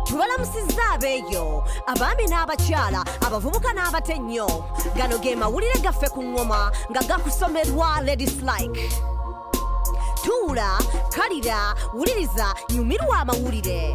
tubalamusizza abeeyo abaami n'abakyala abavubuka n'abato ennyo gano ge mawulire gaffe ku ŋŋoma nga gakusomerwa ladies like tuula kalira wuliriza nyumirwa amawulire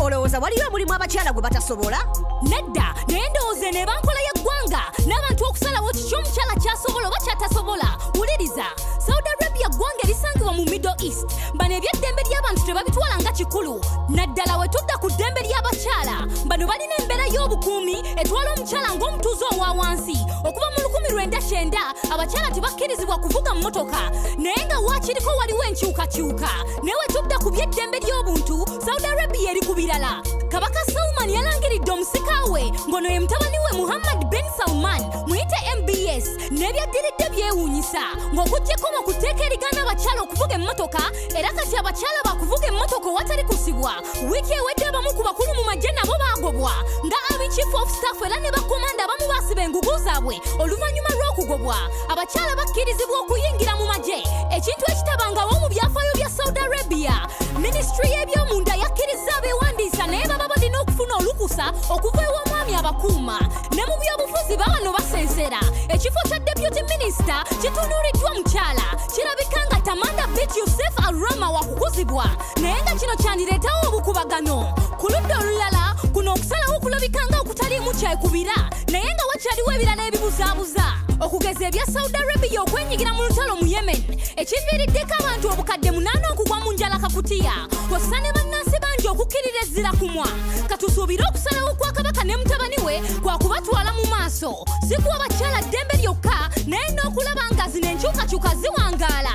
olowooza waliyo omulimu abakyala gwe batasobola nedda naye ndowooza eno eba nkola y'eggwanga n'abantu okusalawo kiki omukyala kyasobola oba kyatasobola wuliriza saudi arabia ggwanga erisangibwa mu middle east bano ebyeddembe ly'abantu tebabitwala nga kikulu naddala we tudda ku ddembe ly'abakyala bano balina embeera y'obukuumi etwala omukyala ng'omutuuze owa wansi okuva mu lukumi lwenda kyenda abakyala tebakkirizibwa kuvuga mmotoka naye nga waakiriko waliwo enkyukakyuka naye wetudda ku by'eddembe ly'obuntu saudi arabia eri ku birala kabaka salman yalangiridde omusika we ng'ono ye mutabani we muhammad ben salman muyite mbs n'ebyaddiridde byewuunyisa ng'okugyeko mu ku tteeka erigaana abakyala okuvuga emmotoka era kati abakyala bakuvuga emmotoka owatali kusibwa wiiki ewedde abamu ku bakulu mu magye nabo baagobwa nga abi chief of staff era ne bakomanda abamu baasiba engugu zaabwe oluvannyuma lw'okugobwa abakyala bakkirizibwa okuyingira mu magye ekintu ekitabangawo mu byafaayo bya saudi arabia minisitule y'ebyomunda yakkirizza abeewandiisa naye baba balina okufuna olukusa okuva ew'omwami abakuuma ne mu byobufuzi babano basensera ekifo kya deputy minisita kitunuuliddwa mukyala kirabika nga tamanda bit yusef arama wakukuzibwa naye nga kino kyandireetawo obukubagano ku ludda olulala kuno okusalawo kulabikanga okutaliimu kyekubira naye nga wakyaliwo ebirala ebibuzaabuza okugeza ebya saudi arabia okwenyigira mu lutalo mu yemen ekiviiriddeko abantu obukadde munaana okugwa mu njala kakutiya kwassa ne bannansi bangi okukkirira ezzira kumwa katusuubire okusalawo kwa kabaka ne mutabani we kwa kubatwala mu maaso si kuwa bakyala ddembe lyokka naye n'okulaba nga zino enkyukakyuka ziwangaala